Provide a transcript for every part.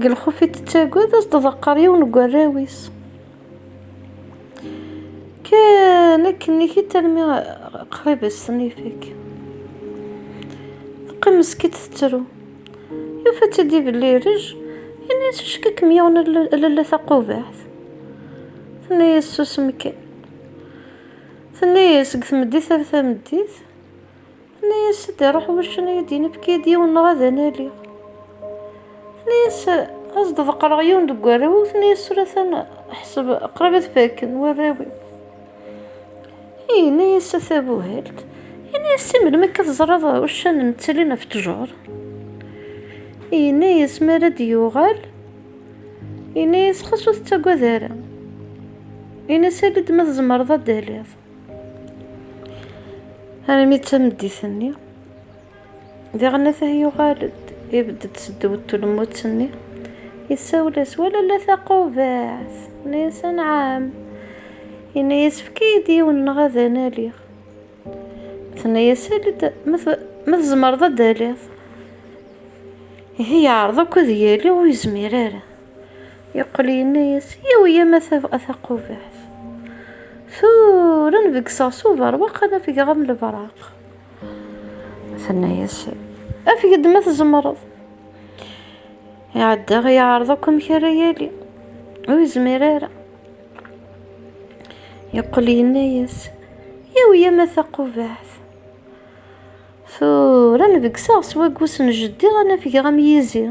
Deg lxuf i tettagad ad s-d-ḍeqqer yiwen n warraw-is. Kan akken ikit almi qrib ad s-ten-ifek. Teqqim meskint tettru. Yufa-tt-id ibelli irej, yenna-as icekk-ikem yiwen lalla taqubaḥt. Tenna-as susem kan. Tenna-as seg tmeddit ar tameddit. Tenna-yas-d iruḥ wuccen ad yi-d-inefk-id yiwen neɣ ad analiɣ. Tenna-yas ad s-d-ḍeqqreɣ yiwen deg warraw-iw, tenna-yas tura atan ḥseb qrib ad faken warraw-iw. Yenna-yas a tabuhalt, yenna-yas si melmi akka teẓriḍ uccan nettalin ɣef ttjur? Yenna-yas mi ara d-yuɣal, yenna-yas xas ur tettagad ara. Yenna-yas ali-d ma tzemreḍ ad d-taliḍ. armi d tameddit-nni diɣen atah yuɣal-d ibedd-d seddew n tulmutt-nni yessawel-as wala la taqubaɛt yenna-yas anɛam yenna-yas efk-iyi-d yiwen neɣ ad analiɣ tenna-yas ali-d ma tzemreḍ ad d-taliḍ ihi yeɛreḍ akk ad yali ur yezmir ara Yeqqel yenna-as, Yawi a Massa a Taqubaḥt, tura n begseɣ s uberwaq ad afgeɣ am lebraq. Tenna-as, Afeg-d ma tzemreḍ. Iɛedda iɛreḍ akk amek ara yali, ur yezmir ara. Yeqqel yenna-as, Yawi a Massa Taqubaḥt, tura n begseɣ s waggus n jeddi ad afgeɣ am yizi.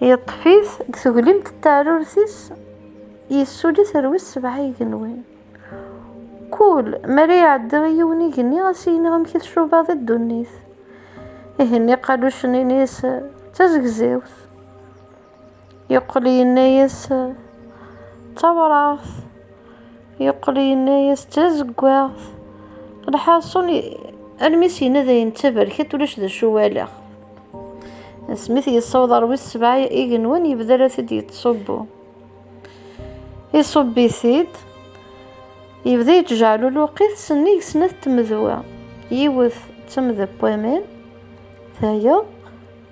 Yeṭṭef-it deg teglimt n teɛrurt-is, yessuli-t ar wis sebɛa igenwan. Kul mi ara iɛeddi i yiwen igenni, a s-yenna amek i tcubaḍ i ddunit. Igenni iqalucen ini-s d tazegzawt. Yeqqel yenna-as d tawraɣt. Yeqqel yenna-yas d tazeggaɣt. Lḥaṣun, almi i s-yenna dayen d taberkant, ulac d acu walaɣ. Asmi t-yessaweḍ ɣer wis sebɛa igenwan, yebda la t-id-yettṣubbu. Iṣubb-it-id, yebda yettjeɛluluq-it sennig snat tmedwa. Yiwet d tamda n waman, tayeḍ,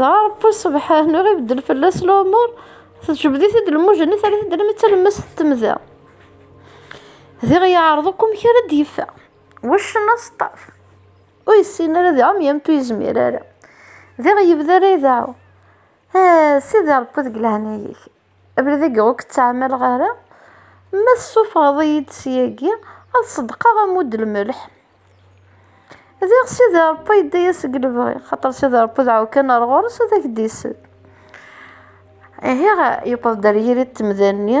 Dɣa Ṛebbi subḥan ur ibeddel fell-as lumuṛ, tejbed-it-id lmujni, terra-t-id alammi d talemmast n temda. Diɣ yeɛreḍ akk amek ara d-yeffeɣ. Wuccen aseṭṭaf. Ur yessin ara ad iɛum yernu ur yezmir ara. Diɣ yebda la ideɛɛu, Ah, Sidi Ṛebbi deg leɛnaya-k! Abrid-agi ur k-ttɛamaleɣ ara. Ma tessufɣeḍ-iyi-d syagi, ad ṣeddqeɣ ammud lmelḥ. Diɣ Sidi Ṛebbi yedda-yas deg lebɣi, xaṭer Sidi Ṛebbi dɛu kan ar ɣur-s ad ak-d-isel. Ihi yewweḍ-d ar yiri n temda-nni.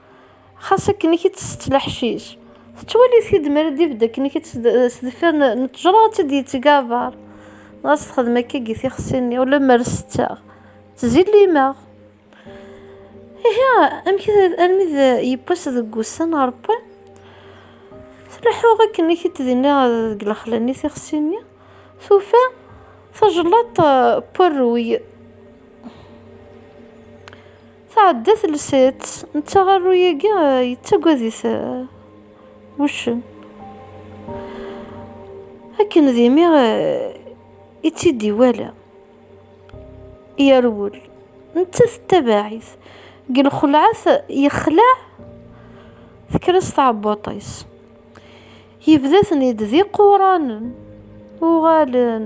Xas akken i k-id-tsett leḥcic. Tettwali-t-id mi ara d-ibedd akken i k-id-tsett s deffir n ttejra ad tt-id-yettgabar. Dɣa s texdem akka gi tixsi-nni, ulammer setteɣ, ttzillimeɣ. Ihi, amek armi d yiwwas deg wussan n Rebbi, tleḥḥuɣ akken i k-id-d-inniɣ deg lexla-nni tixsi-nni, tufa tajlaṭ n werruy. Tɛedda telsa-tt, netta arru-agi yettagad-it wuccen. Akken d imi i tt-id-iwala, yerwel, netta tettabaɛ-it. Deg lxelɛa-t yexleɛ tekker-as tɛebbuṭ-is. Yebda-ten-id d iquṛanen, uɣalen.